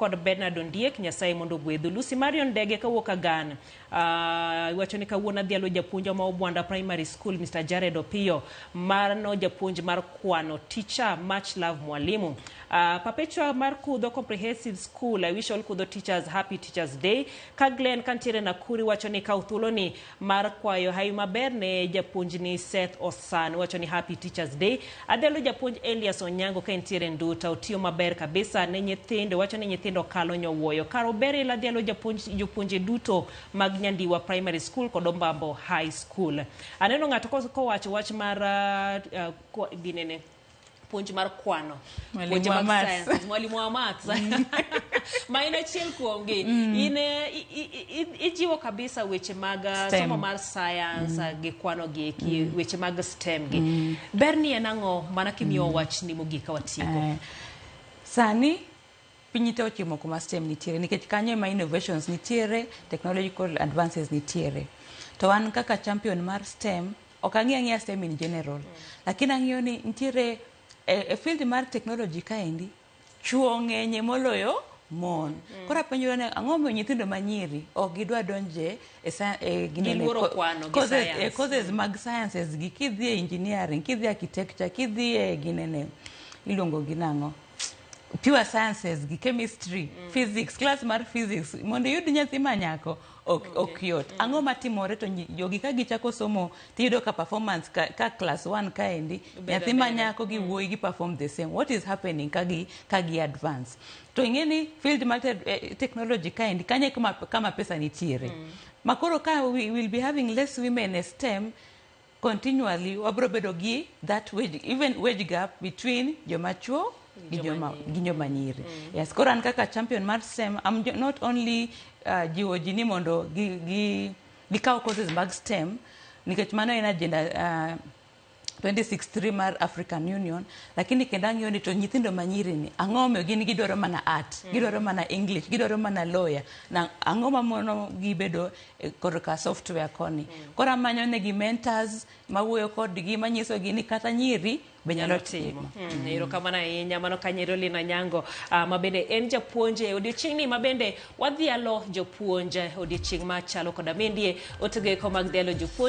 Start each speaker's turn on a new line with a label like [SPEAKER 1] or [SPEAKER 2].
[SPEAKER 1] kod Bernard Ondiek, Nyasaye mondo ogwedhu. Lucy Marion Ndege kawuok Agan, uh, iwacho ni kawuono adhi alo japuonjwa ma Obwanda Primary School, Mr. Jared Opiyo, mano japuonj mar kwano, teacher, much love mwalimu. Uh, Perpetua mar Kudho Comprehensive School, I wish all Kudho teachers happy Teachers Day. Ka Glenn kantiere Nakuru iwacho ni kaw thuoloni Mar kwayo hawi maber ne japuonjni Seth Osan. Iwacho ni happy teachers day. Adhelo japuonj Elias Onyango ka entiere Nduta. Otiyo maber kabisa ne nyithindo. Iwacho ni nyithindo kalo nyowuoyo. Kar Oberil adhialo japuonj jopuonje duto mag Nyandiwa Primary School kod Ombambo High School. Aneno ng'ato kowacho wach mar uh, uh, ginene. puonj mar kwano Mwalimu puonje wa mag maths. sciences, mwalimu wa maths ma in achiel kuomgi in eh, i- i- i- ijiwo kabisa weche mag eh, STEM. somo mar science eh, gi kwano gi eki weche mag stem gi ber ni en ang'o mana kimiyo wach ni mogik ka watieko Eh, sani
[SPEAKER 2] piny te ochimo kuma stem nitiere nikech kanyo ema innovations nitiere technological advances nitiere to wan kaka champion mar stem Ok ang'eyo ang'eya STEM in general. Lakini ang'eyo ni nitiere e, e field mar technology kaendi chuo ng'enye moloyo mon. Mm. Koro apenjora ni ang'o momiyo nyithindo manyiri ok gidwa donje e sa- e ginene- Giluoro ko- kwano gi courses- science. e courses mag sciences gi kidhi e engineering, kidhi e architecture, kidhi e ginene iluongo gi nang'o? pure sciences gi chemistry mm. physics class mar physics mondo iyud nyathi ma nyako ok okay. ok yot mm. ang'o matimore to jogi ka gichako somo tiyudo ka performance ka, ka class 1 kaendi nyathi ma nyako gi mm. wuoyi gi perform the same what is happening ka gi ka gi advance to ing'eni field mar te, eh, technology kaendi kanye kama, kama pesa nitiere mm. makoro ka we will be having less women in STEM continually wabiro bedo gi that wage, even wage gap between joma chuo gi joma gi joma nyiri yes koro an kaka champion mar STEM I'm jo- not only uh, jiwo ji ni mondo gi gi gikaw courses mag STEM nikech mano en agenda uh, 2063 mar African Union lakini kendo ang'iyo ni to nyithindo manyiri ni ang'o momiyo gin gidwaro mana art gidwaro mana English gidwaro mana lawyer na ang'o mamono gibedo e korka software koni. Koro amanyo negi mentors mawuoyo kodgi manyisogi ni kata nyiri be nyalo timo. Mm, Erokamano ahinya
[SPEAKER 1] mano ka nyiri Lina Nyango ah, ma bende en japuonj e odiechieng'ni ma bende wadhialo jopuonj eh, odiechieng' machalo koda mendie otegoeko mag dhialo jopuonj